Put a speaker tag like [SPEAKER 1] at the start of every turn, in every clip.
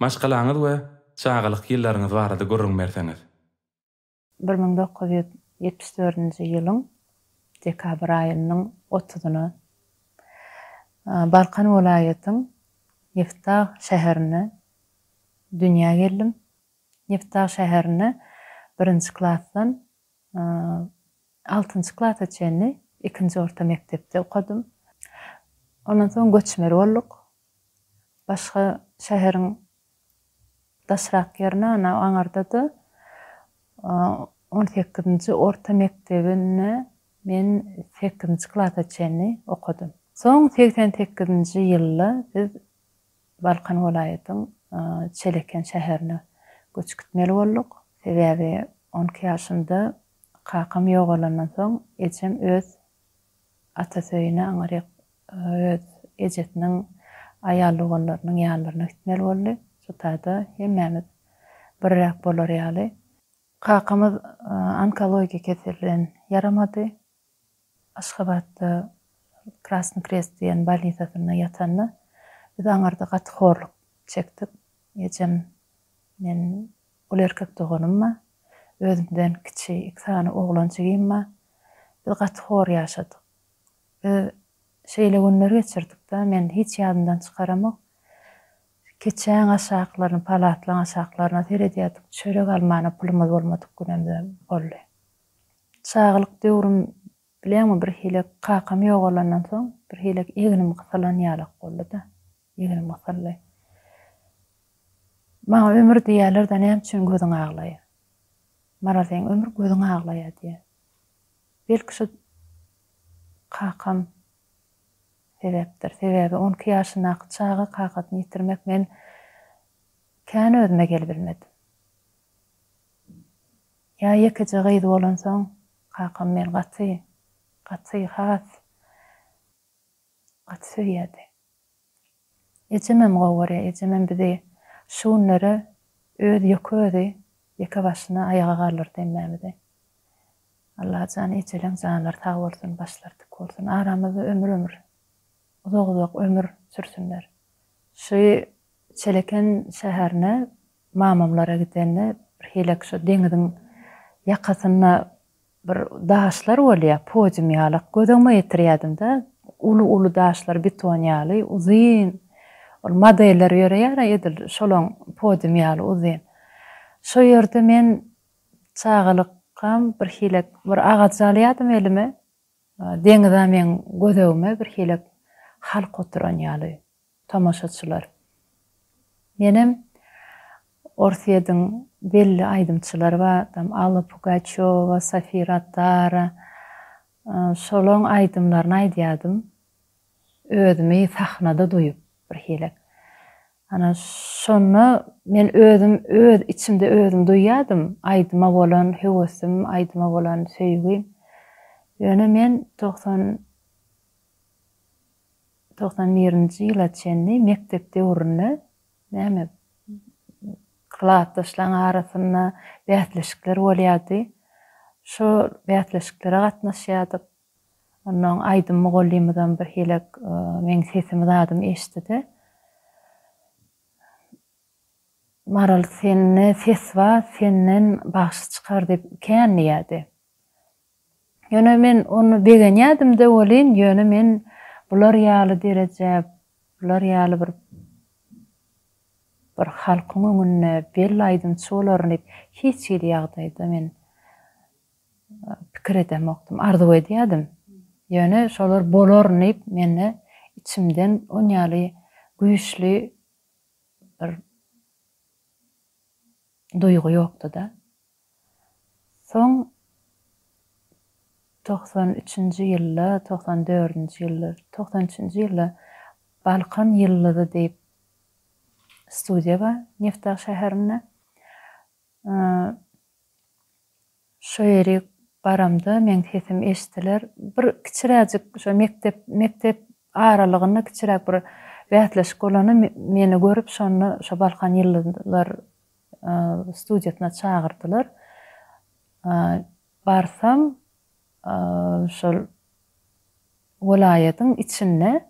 [SPEAKER 1] Maşgalaňyz we çagalyk ýyllaryňyz barada gürrüň berseňiz? Bir müň dokuz ýüz
[SPEAKER 2] ýetmiş dördünji ýylyň dekabr aýynyň otuzyna Balkan welaýatyň Niftagy şäherine dünýä geldim. Niftagy şäherine birinji klasdan altynjy klasa çenli ikinji orta mekdepde okadym. Ondan soň göçmeli bolduk. Başga şäheriň Daşrak Germana baňarda-da, on sekizinji orta mekdebini men sekizinji klasa çenli okadym. Soň segsen sekizinji ýylda biz Balkan welaýatyň Çeleken şäherine göç gitmeli bolduk. Sebäbi on iki ýaşymda kakam ýogalandan soň ejem öz Atasöýüne aňryk öz ejesiniň aýal doganlarynyň ýanlaryna gitmeli boldy. Şu taýda hemmämiz birräk bolar ýaly. Kakamyz onkologiýa keseli bilen ýaramady. Aşgabatda Krasny Krest diýen bolnisasynda ýatanda biz aňyrda gaty horluk çekdik. Ejem, men Ol erkek doganymma, özümden kiçi iki sany oglan jigimma, biz gaty hor ýaşadyk. Biz şeýle günler geçirdik-de, men hiç ýadymdan çykaramok, keçäň aşaklaryna, palatlaň aşaklaryna seredýärdik, çörek almana pulumyz bolmadyk günem-de boldy. Çagalyk döwrüm Bilýäňmi, birhilek kakam ýogalandan soň, birhilek egnim gysylan ýalak boldy-da. Egnim gysyldy. Maňa ömür diýýäler-de, näme üçin gözüň aglaýar? Maral, seň ömür gözüň aglaýar diýýär. Belki şu kakam sebäpdir. Sebäbi on iki ýaşyndaky çaga kakasyny ýitirmek men kän özüme gelibilmedim. Ýa ýekeje gyz bolansoň kakam meni gaty, gaty, has gaty söýýärdi. Ejemem gowy görýär. Ejemem bizi şu günlere öz ýeke özi ýeke başyna aýaga galdyrdy hemmämizi. Allajan ejeleň janlary sag bolsun, başlary dik bolsun. Aramyzda ömür ömür, uzak uzak ömür sürsünler. Şu Çeleken şäherine Mamamlara gidende birhilek şu deňiziň ýakasynda bir daşlar bolýar, podium ýalak. Göz öňüme getirýärdim-de, uly-uly daşlar beton ýaly, uzyn. Ol modeller ýöreýär-ä edil şolaň podium ýaly uzyn. Şo ýerde men çagalykam birhilek bir agajy alýardym elime. Deňiz-ä meň göz öňüme birhilek halk oturan ýaly. Tomaşaçylar. Menem Orsyýediň belli aýdymçylary bar, tam Alla Pugaçýowa, Sofir Attara, şolaň aýdymlaryny aýdýadym, özümi sahnada duýup birhilek. Ana, şonda men özüm öz içimde özüm duýýadym, aýdyma bolan höwesim, aýdyma bolan söýgim. Ýöne men togsan Togsan birinji ýyla çenli mekdep döwründe näme klasdaşlaň arasynda bäsleşikler bolýardy. Şo bäsleşiklere gatnaşýardyk. Onnoň aýdym mugallymymyzam birhili meň sesimi zadym eşitdi-de, Maral, sende ses bar, senden bagşy çykar diýip kän diýýärdi. Ýöne men ony begenýädim-de welin, ýöne men bular ýaly derejä, bular ýaly bir bir halkyň öňünde belli aýdymçy bolaryn diýip hiç hili ýagdaýda men pikir edemokdym. Arzuw edýädim. Ýöne şolar bolaryn diýip mende içimden on ýaly güýçli bir duýgy ýokdy-da. Soň togsan üçünji ýylda, togsan dördünji ýylda, togsan üçünji ýylda Balkan ýyldyzy diýip studiýa bar Nefdag şäherinde. Şo ýeri baramda meň sesim eşdiler. Bir kiçiräjik şo mekdep, mekdep aralygynda kiçiräk bir bäsleşik bolanda meni görüp şonda şo Balkan ýyldyzlar studiýasyna çagyrdylar. Barsam, şol welaýatyň içinde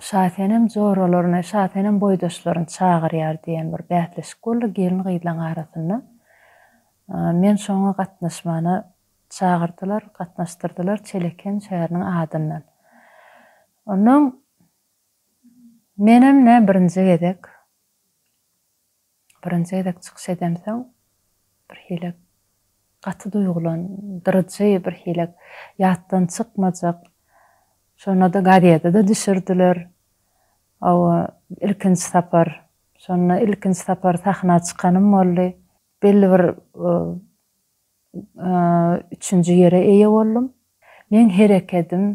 [SPEAKER 2] Şasenem joralaryny, Şasenem boýdaşlaryny çagyrýar diýen bir bäsleşik boldy gelin-gyzlaryň arasynda. Men şoňa gatnaşmana çagyrdylar, gatnaşdyrdylar Çeleken şäheriniň adyndan. Onnoň menem nä birinji gezek, Birinji gezek çykyş edemsoň birhili gaty duýgulan dyryjy birhili ýatdan çykmajak şonada gazetede düşürdiler ow ilkinji sapar şonda ilkinji sapar sahna çykanym boldy belli bir üçünji ýere eýe boldum. Meň herekedim,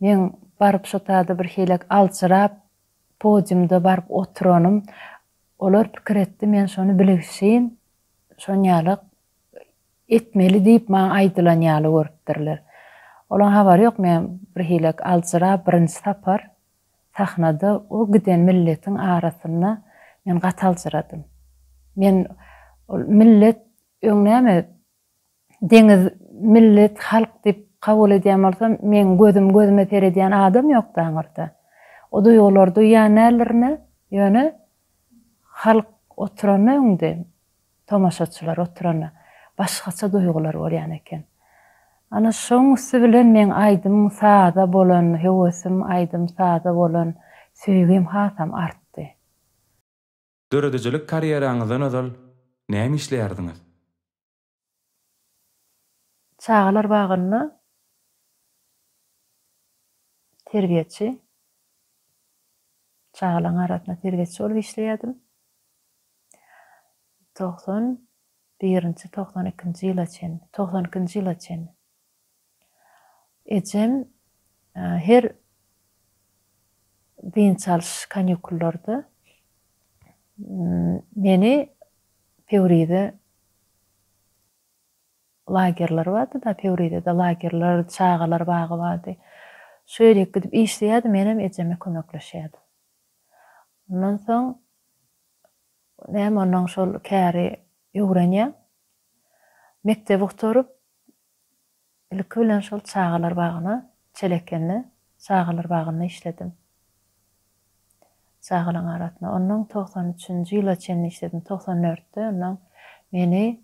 [SPEAKER 2] meň baryp şo taýda birhilek aljyrap, podiumda baryp oturanym, olar pikir etdi, men şony bilgşin şonýaly etmeli diýip maňa aýdylan ýaly görüpdirler. Olaň habary ýok, men birhilek aljyrap, birinji sapar sahnada o giden milletiň arasynda men gaty aljyradym. Men ol millet Öň näme, deňiz millet, halk diýip kabul edýän bolsam, meň gözüm gözüme seredýän adam ýokdy aňyrda. O duýgulary duýýan däldirin-ä, ýöne halk oturanda öňde, tomaşaçylar oturanda, başgaça duýgular bolýan eken. Ana, şoň üsti bilen meň aýdym-saza bolan höwesim, aýdym-saza bolan söýgim hasam artdy.
[SPEAKER 1] Döredijilik karýeraňyzdan ozal näme işleýärdiňiz?
[SPEAKER 2] Çagalar bagynda terbiýeçi, çagalaryň arasynda terbiýeçi bolup işleýärdim. Togsan birinji, togsan ikinji ýyla çenli, togsan ikinji ýyla çenli. Ejem her dynç alyş kanýukullarda meni Pöwrize lagerleri bardy-da, Pöwrizede lagerler, çagalar bagy bardy. Şu ýerik gidip işleýärdi, menem ejeme kömekleşýärdim. Ondan soň näme onnoň şol käri öwrenýär. Mekdebi gutaryp, Ilki bilen şol çagalar bagyna, Çelekende çagalar bagynda işledim. Çagalaryň arasynda. Onnoň togsan üçünji ýyla çenli işledim. Togsan dörtde onnoň meni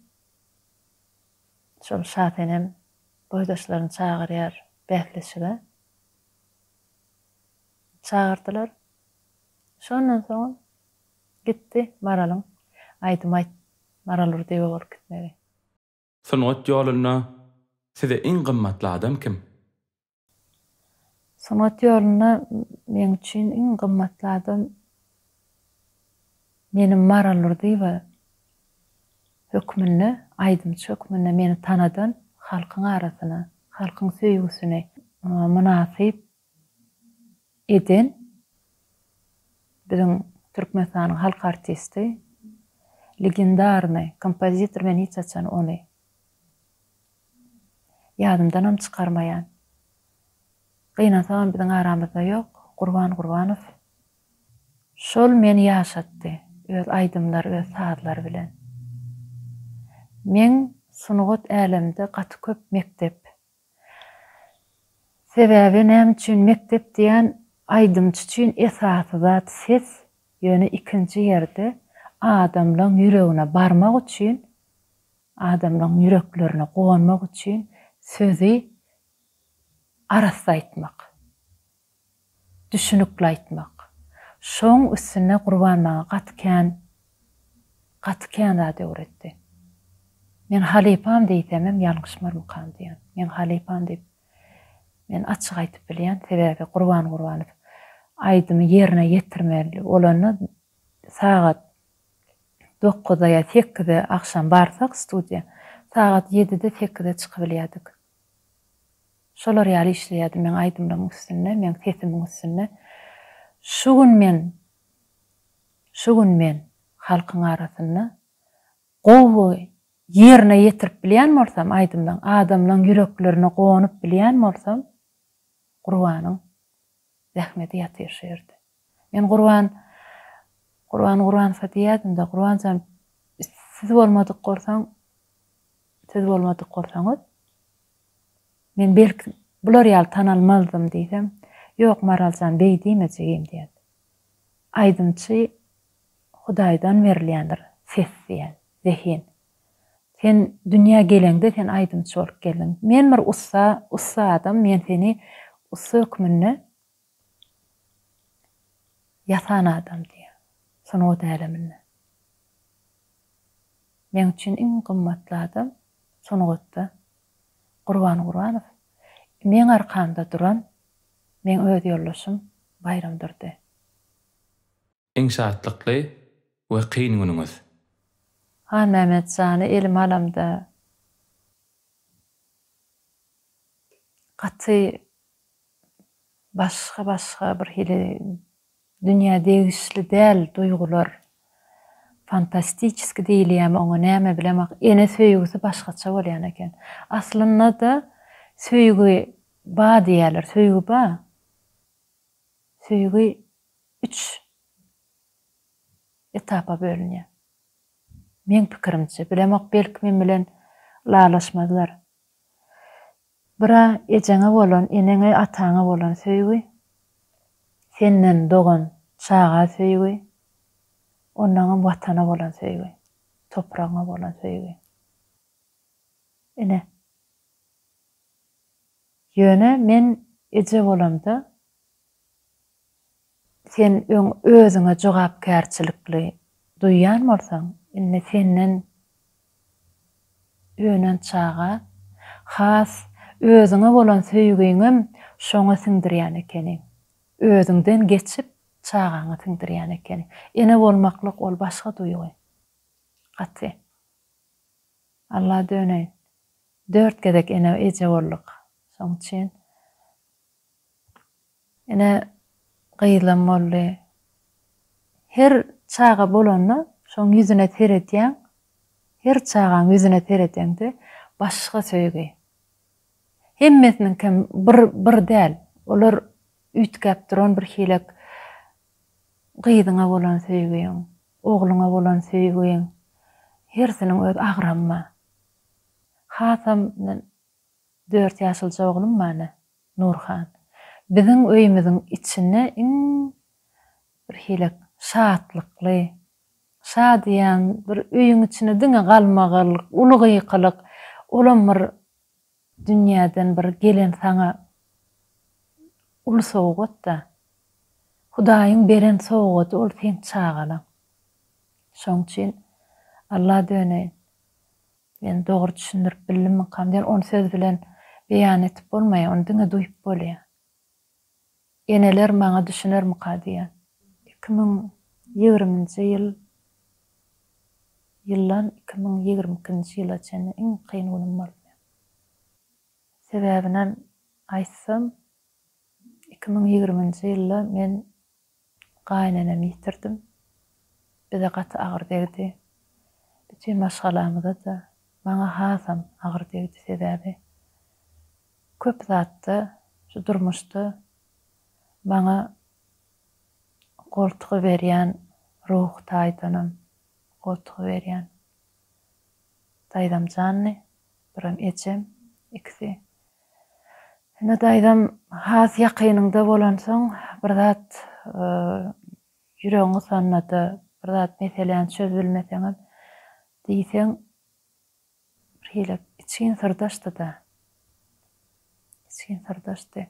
[SPEAKER 2] şol Şasenem boýdaşlaryny çagyrýar bäsleşige. Çagyrdylar. Şondan soňam gitdi Maralyň aýdym aýt Maral Urdyýewa bolup gitmegi. Sungat
[SPEAKER 1] ýolunda size iň gymmatly adam kim?
[SPEAKER 2] Sungat ýolunda meň üçin iň gymmatly adam meniň Maral Durdyýewa hökmünde, aýdymçy hökmünde meni tanadan, halkyň arasyna, halkyň söýgüsini mynasyp eden biziň Türkmenistanyň halk artisti, legendarnyý kompozitor men hiç haçan ony ýadymdanam çykarmaýan. Gynansagam biziň aramyzda ýok, Gurban Gurbanow. Şol meni ýaşatdy öz aýdymlary, öz sazlary bilen. Men sungat älemde gaty köp mekdep Sebäbi näme üçin mekdep diýen aýdymçy üçin esasy zat ses, ýöne ikinji ýerde adamlaň ýüregine barmak üçin, adamlaň ýüreklerine gonmak üçin sözi arassa aýtmak. Düşünikli aýtmak. Şoň üstüne Gurban maňa gaty kän, gaty kän zat öwretdi. Men halypam diýsemem ýalňyşmarmykam diýýän. Men halypam diýip, men açyk aýtyp bilýän. Sebäbi Gurban Gurbanow aýdymy ýerine ýetirmeli bolanda sagat dokuzda ýa sekizde agşam barsak studiýa, sagat ýedide-sekizde çykybilýärdik. Şolar ýaly işleýärdim men aýdymlaryň üstünde, meň sesimiň üstünde. Şu gün men, şu gün men halkyň arasynda gowy ýerine ýetirip bilýän bolsam aýdymlaň, adamlaň ýüreklerine gonup bilýän bolsam Gurbanyň Zähmeti ýatyr şu ýerde. Men Gurban, Gurban, Gurbansow diýýädim-de, Gurban jan, siz bolmadyk bolsaň, siz bolmadyk bolsaňyz, men belki bular ýaly tanalmazdym diýsem, Ýok, Maral jan, beý diýme jigim diýen. Aýdymçy Hudaýdan berilýändir ses diýen, zehin. Sen dünýä geleňde sen aýdymçy bolup geldiň. Men bir ussa, ussa adam, men seni ussa hökmünde ýasan adam diýýän. Sungat äleminde. Meň üçin iň gymmatly adam sungatda Gurban Gurbanow. Meň arkamda duran meň öz ýoldaşym Baýram Durdy.
[SPEAKER 1] Iň şatlykly we kyn günüňiz. Haý
[SPEAKER 2] Mehmet jany elime alamda gaty başga başga bir hili dünýä degişli däl duýgular fantastiçeski diýilýämi oňa näme bilemok ene söýgüsi başgaça bolýan eken aslynda-da söýgi ba diýýäler söýgi ba söýgi üç etapa bölünýär. Meň pikirimçe, bilemok belki men bilen lalaşmazlar. Bira ejeňe bolan, eneňe, ataňa bolan söýgi, senden dogan çaga söýgi, ondanam watana bolan söýgi, topragyňa bolan söýgi. Ine. Ýöne men eje bolamda Sen öň özüňe jogapkärçilikli duýýan bolsaň, indi senden önen çaga has özüňe bolan söýgiňem şoňa siňdirýän ekeniň. Özüňden geçip, çagaňa siňdirýän ekeniň. Ene bolmaklyk ol başga duýgy. Gaty. Alla döneýin. Dört gezek ene-eje bolduk. Şoň üçin Ine, gyzlam boldy. Her çaga bolanda şoň ýüzüne seredýäň, her çagaň ýüzüne seredeňde başga söýgi. Hemmesiniňkem bir bir däl, olar üýtgäp duran birhilek gyzyňa bolan söýgiň, ogluňa bolan söýgiň hersiniň öz agramy bar. Hasam men dört ýaşylja oglum bar ine. Nurhan. Biziň öýümiziň içine iň bir hile şatlykly, şa diýýän bir öýüň içine diňe galmagal, uly gykylyk, olam bir dünýäden bir gelen saňa uly sowgat-da. Hudaýyň beren sowgady ol seň çagalaň. Şoň üçin Alla döneýin. Sen dogry düşündirip bildimikam diýen ony söz bilen beýan etip bolmaýar ony diňe duýup bolýar. Eneler maňa düşünermika diýýän. Iki müň ýigriminji ýyl ýyllan iki müň ýigrimi ikinji ýyla çenli iň kyn günüm bolupdyr. Sebäbinem aýtsam iki müň ýigriminji ýylda men Gaýynenemi ýitirdim. Bize gaty agyr degdi. Bütin maşgalamyza-da, maňa hasam agyr degdi, sebäbi köp zatda şu durmuşda maňa goltgy berýän, ruhy taýdanam goltgy berýän Daýzam janly, biram ejem, ikisi. Indi daýzam has ýakynyňda bolansoň, bir zat ýüregiň gysanda-da, bir zat meseläni çözübilmeseňem, diýseň birhili içgin syrdaşdy-da. Içgin syrdaşdy.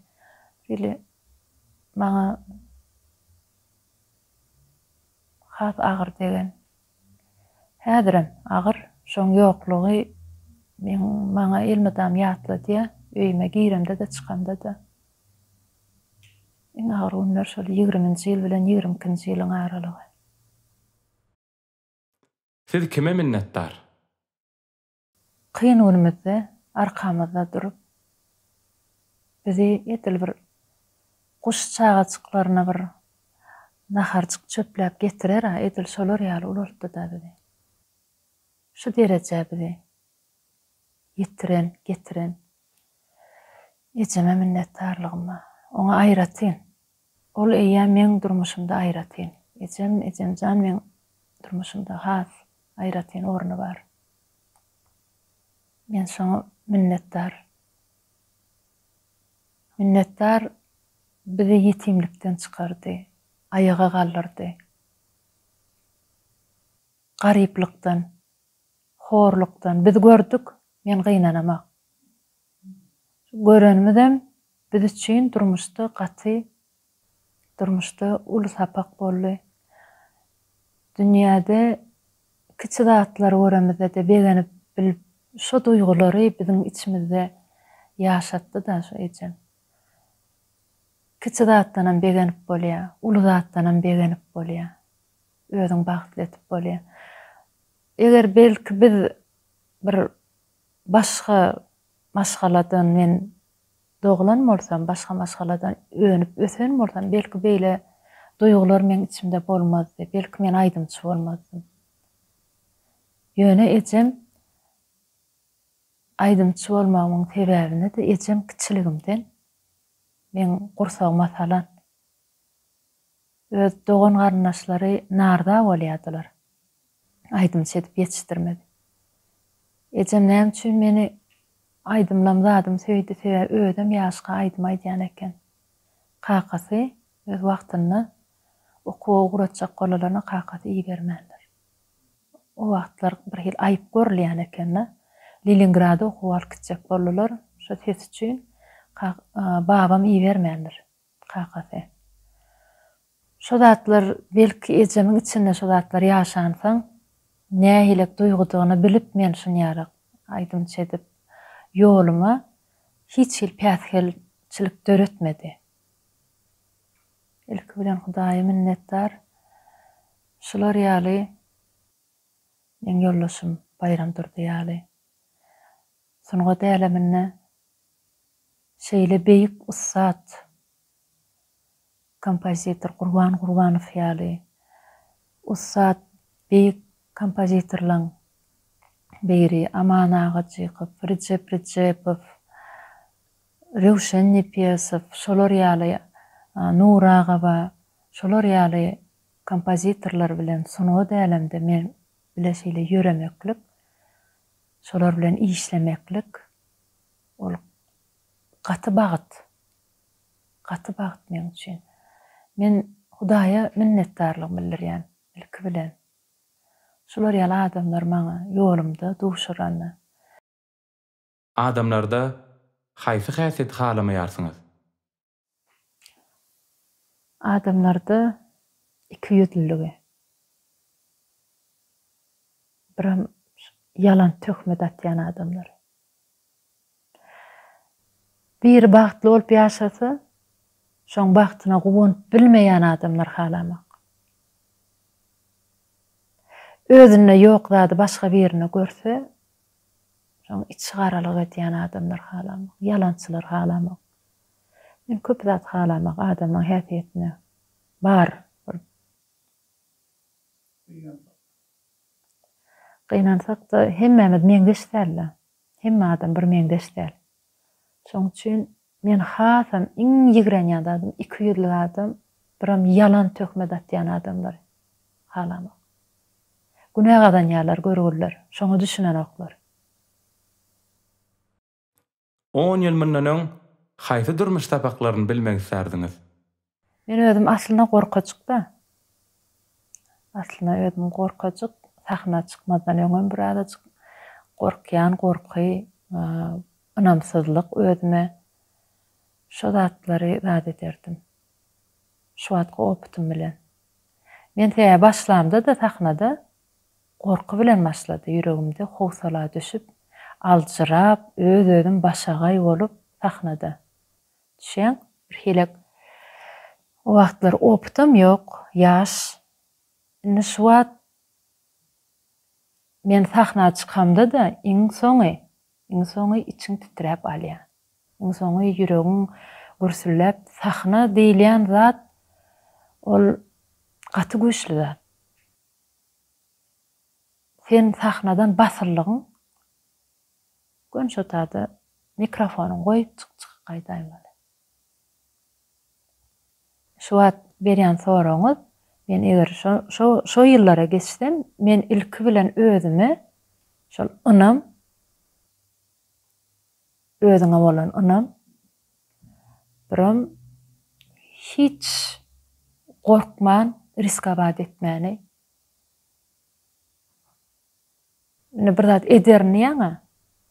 [SPEAKER 2] Birhili maňa has agyr degen Häzirem agyr, şoň ýoklugy meň maňa elmydam ýatladýar, öýüme giremde-de çykamda-da. Iň agyr günler şol ýigriminji ýyl bilen ýigrimi ikinji ýylyň aralygy.
[SPEAKER 1] Siz kime minnetdar?
[SPEAKER 2] Kyn günümizde arkamyzda durup, bizi edil bir guş çagajyklaryna bir naharjyk çöpläp getirer-ä, edil şolar ýaly ulaltdy-da bizi. Şu derejä bizi ýetiren, getiren ejeme minnetdarlygym bar. Oňa aýratyn Ol eýýäm meň durmuşymda aýratyn. Ejem, ejemjan meň durmuşymda has aýratyn orny bar. Men şoňa minnetdar. Minnetdar bizi ýetimlikden çykardy, aýaga galdyrdy. Garyplykdan, horlukdan biz gördük, men gynanamak. Şu görenimizem biz üçin durmuşda gaty durmuşda uly sapak boldy. Dünýäde kiçi zatlary göremizde-de begenip bilip şo duýgulary biziň içimizde ýaşatdy-da şu ejem. Kiçi zatdanam begenip bolýar, uly zatdanam begenip bolýar. Özüň bagtly etip bolýar. Eger belki biz bir Başga maşgaladan men doglan bolsam, başga maşgaladan önüp ösen bolsam, belki beýle duýgular meň içimde bolmazdy, belki men aýdymçy bolmazdym. Ýöne ejem aýdymçy bolmagymyň sebäbini-de ejem kiçiligimden meň gursagyma salan. Öz dogan-garyndaşlary narda bolýardylar. aýdymçy edip ýetişdirmedi. Ejem näme üçin meni aýdymlam zadym söýdi, sebäbi özem ýaşka aýdym aýdýan eken. Kakasy öz wagtynda okuwa ugratjak bolalaryna kakasy ibermändir. O wagtlar bir hili aýyp görülýän eken-de. Leningrada okuwa alyp gitjek boldular, şo ses üçin babam ibermändir. Kakasy. Şo zatlar, belki, ejemiň içinde şo zatlar ýaşansoň, nähilek duýgudygyny bilip men şunýarak aýdymçy edip, ýoluma hiç hili päsgelçilik döretmedi. Ilki bilen Hudaýa minnetdar. Şular ýaly, meň ýoldaşym Baýram Durdy ýaly sungat äleminde Şeýle beýik ussat kompozitor Gurban Gurbanow ýaly ussat beýik kompozitorlaň biri Aman Agajykow, Rejep Rejepow, Röwşen Nepesow şolar ýaly Nury Agaba şolar ýaly kompozitorlar bilen sungat älemde men bile şeýle ýöremeklik, şolar bilen işlemeklik. Ol gaty bagt. Gaty bagt meň üçin. Men Hudaýa minnetdarlygymy bildirýän, ilki bilen. Şular ýaly adamlar maňa ýolumda duşuranda.
[SPEAKER 1] Adamlarda haýsy häsiýeti halamaýarsyňyz?
[SPEAKER 2] Adamlarda ikiýüzlüligi, biram ýalan töhmet atýan adamlar. Biri bagtly bolup ýaşasa, şoň bagtyna guwanyp bilmeýän adamlar halamak. Özünde ýok zady başga birinde görse, Şoň içigaralyk edýän adamlar halamok, ýalançylar halamok. Men köp zat halamak adamyň häsiýetine bar bir. Gynansakda hemmämiz meňzeş däl-de. Hemme adam bir meňzeş däl. Şoň üçin Men hasam iň ýigrenýän zadym iki ýüzlük adam, biram ýalan töhmet atýan adamlary halamok. Günä gazanýarlar görgüliler, şoňa düşünenoklar.
[SPEAKER 1] On ýyl mundan öň haýsy durmuş sapaklaryny bilmek islärdiňiz? Men
[SPEAKER 2] özüm aslynda gorkajykda. Aslynda özüm gorkajyk. Sahna çykmazdan öňem bir azajyk gorkýan, gorky, ynamsyzlyk özüme. Şo zatlary zat ederdim. Şu wagtky opytym bilen. Men sebäbi başlamda-da sahnada gorky bilen başlady ýüregimde howsala düşüp, aljyrap, öz-özüm başagaý bolup sahnada. Düşýäň? Birhilek o wagtlar opytam ýok, ýaş. Indi şu wagt men sahna çykamda-da iň soňy, iň soňy içiň titräp alýar. Iň soňy ýüregiň gürsülläp, sahna diýilýän zat ol gaty güýçli zat. Sen sahnadan basyldygyň Gün şotada mikrofonyň goýup çyk çyk gaýdaýmaly. Şu wagt berýän soragyňyz men eger şo şo şo ýyllara geçsem men ilki bilen özüme şol ynam özüňe bolan ynam birom hiç gorkman riskowaat etmäni Indi bir zat ederin diýýäň-ä.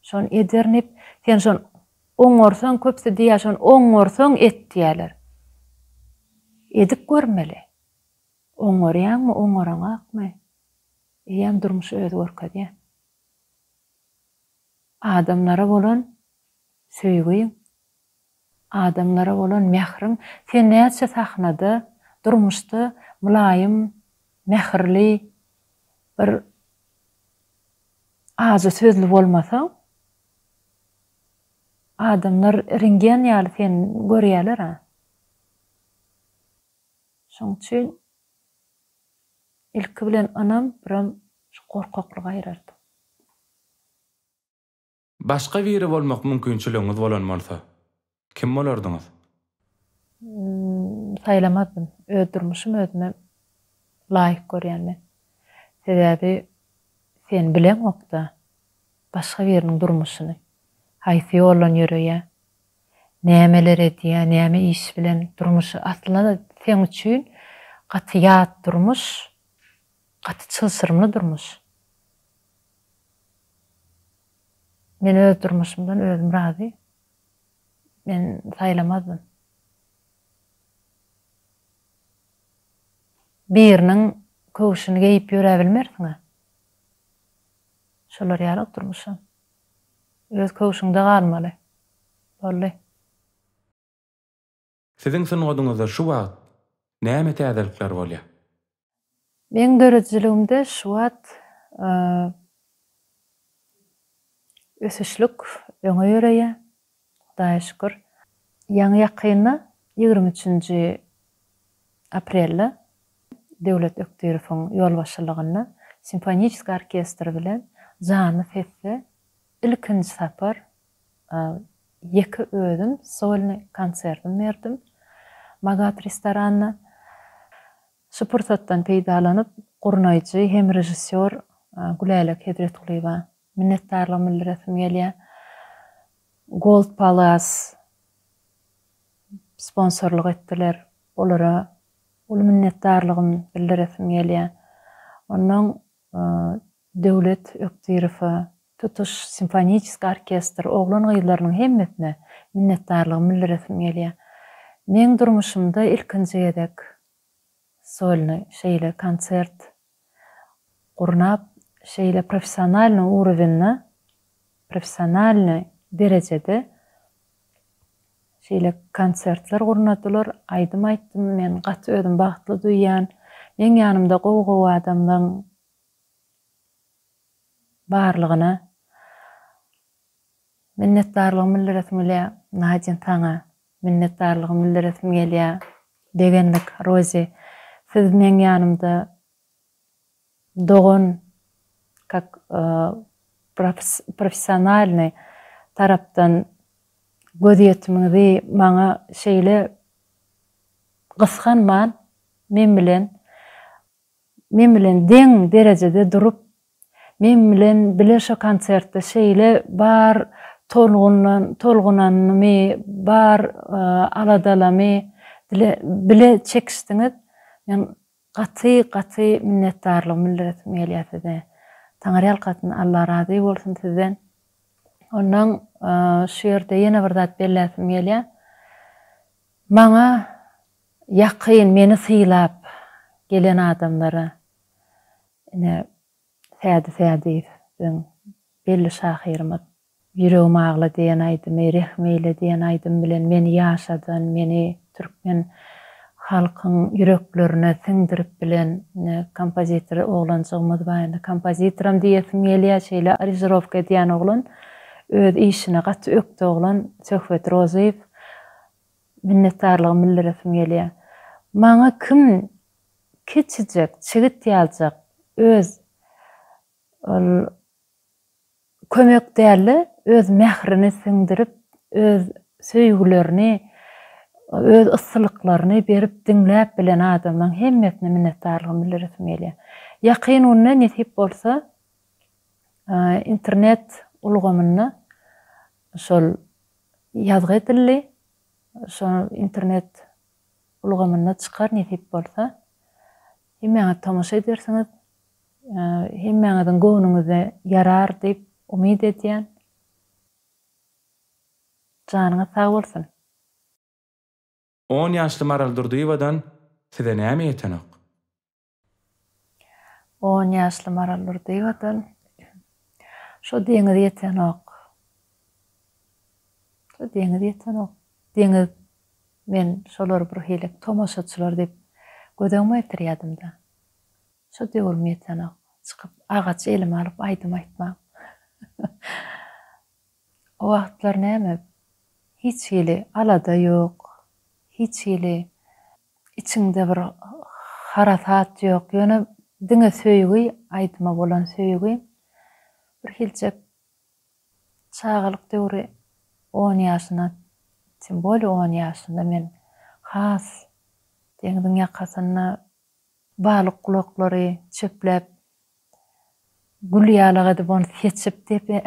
[SPEAKER 2] Şony ederin diýip, sen şony oňarsaň, köpsi diýýär, şony oňarsaň et diýýärler. Edip görmeli. Oňarýaňmy, oňaraňakmy? Eýýäm durmuş özi görkezýär. Adamlara bolan söýgi Adamlara bolan mähriň sen näçe sahnada, durmuşda mylaýym, mähirli, bir ajy sözli bolmasaň, adamlar rngen ýaly seni görýäler-ä. Şoň üçin ilki bilen ynam, biram şu gorkaklygy aýyrardy.
[SPEAKER 1] Başga biri bolmak mümkinçiligiňiz bolan bolsa, kim bolardyňyz?
[SPEAKER 2] Saýlamazdym. Öz durmuşym özüme laýyk görýän men. Sebäbi sen bileňok-da başga biriniň durmuşyny. Haýsy ýoldan ýöreýär, nämeler edýär, näme iş bilen durmuşy. Aslynda-da seň üçin gaty ýat durmuş, gaty çylşyrymly durmuş. Men öz durmuşymdan özüm razy. Men saýlamazdym. Biriniň köwşüni geýip ýöräbilmersiň-ä. Şolar ýaly durmuşam. Öz köwşüňde galmaly. Boldy.
[SPEAKER 1] Siziň sungatyňyzda şu wagt näme täzelikler bolýar?
[SPEAKER 2] Meň döredijiligimde şu wagt ösüşlik öňe ýöreýär, Hudaýa şükür. Ýaňy ýakynda ýigrimi üçünji aprelde Döwlet Ökdürowyň ýolbaşçylygynda simfoniçeskiý orkestr bilen janly sesde ilkinji sapar Ýeke özüm solny konsertim berdim Magat restoranda. Şu pursatdan peýdalanyp, gurnaýjy hem režissýor Gülälek Hezretgulyýewa minnetdarlygymy bildiresim gelýär. Gold Palace sponsorlyk etdiler. Olara uly minnetdarlygymy bildiresim gelýär. Onnoň Döwlet Ökdirowa, tutuş simfoniçeskiý orkestr oglan-gyzlarynyň hemmesine minnetdarlygymy bildiresim gelýär. Meň durmuşymda ilkinji gezek solny şeýle konsert gurnap, şeýle professionalnyý urowenda, professionalnyý derejede şeýle konsertler gurnadylar, aýdym aýtdym. Men gaty özümi bagtly duýýan. Meň ýanymda gowy-gowy adamlaryň Barlygyna minnetdarlygymy bildiresim gelýä. Nadin saňa minnetdarlygymy bildiresim gelýä. Begenmek Rozi siz meň ýanymda dogan kak professionalnyý tarapdan gözýetimiňizi maňa şeýle gysganman men bilen Men bilen deň derejede durup, men bilen bile şo konsertde şeýle bar tolgunanymy, bar aladalamy bile çekişdiňiz. Men gaty, gaty minnetdarlygymy bildiresim gelýär size. Taňyrýalkasyn, Alla razy bolsun sizden. Ondan şu ýerde ýene bir zat belläsim gelýär. Maňa Ýakyn, meni sylap gelen adamlara ine Sädi Sädiýew biziň belli şahyrymyz. Ýüregim agla diýen aýdymy, Rehm eýle diýen aýdym bilen meni ýaşadan, meni türkmen halkyň ýüreklerine siňdirip bilen ine kompozitor oglanjygymyz bar. Indi kompozitoram diýesim gelýär, şeýle arizirowka edýän oglan, öz işine gaty ökde oglan Söhbet Rozyýew. Minnetdarlygymy bildiresim gelýär. Maňa kim kiçijek çigit ýaljak öz ol kömek dälde öz mährini siňdirip, öz söýgülerini, öz yssylyklaryny berip diňläp bilen adamlaň hemmesine minnetdarlygymy bildiresim gelýär. Ýakyn günde nesip bolsa internet ulgamynda şol ýazgy edildi. Şo internet ulgamynda çykar nesip bolsa. Hemmäňiz tomaşa edersiňiz. Hemmäňiziň göwnüňize ýarar diýip umyt edýän. Janyňyz sag bolsun. On
[SPEAKER 1] ýaşly Maral Durdyýewadan size näme ýetenok.
[SPEAKER 2] On ýaşly Maral Durdyýewadan Şo deňiz ýetenok. Şo deňiz ýetenok. Deňiz men şolary birhili tomaşaçylar diýip göz öňüme getirýädim-de. Şo döwrüm ýetenok. Çykyp agaç elime alyp aýdym aýtmam. O wagtlar näme, hiç hili alada ýok, hiç hili Içiňde bir harasat ýok, ýöne diňe söýgi, aýdyma bolan söýgi. Birhilçek çagalyk döwri on ýaşyna tim bolýa on ýaşynda men has deňziň ýakasynda, Balyk gulaklary çöpläp, gül ýalak edip ony seçip depe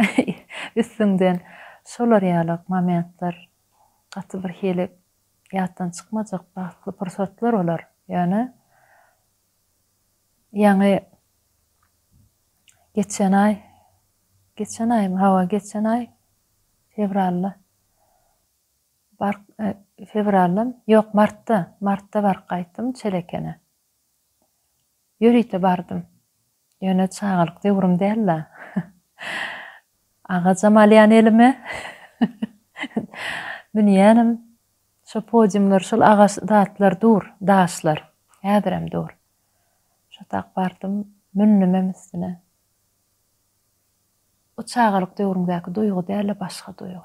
[SPEAKER 2] üstüňden şolar ýalak momentler gaty bir hili ýatdan çykmajak bagtly pursatlar olar. Ýöne ýaňy geçen aý, geçen aýmy, hawa geçen aý fewralda. Bark Fewraldam, ýok, martda, martda baryp gaýtdym Çelekene. Ýörite bardym. Ýöne çagalyk döwrüm däl-la. Agajam alýan elime. Münýänim. Şo podiumlar, şol agaç zatlar dur, daşlar. Häzirem dur. Şo tak bardym, mündümem üstüne. O çagalyk döwrüňdäki duýgy däl-de başga duýgy.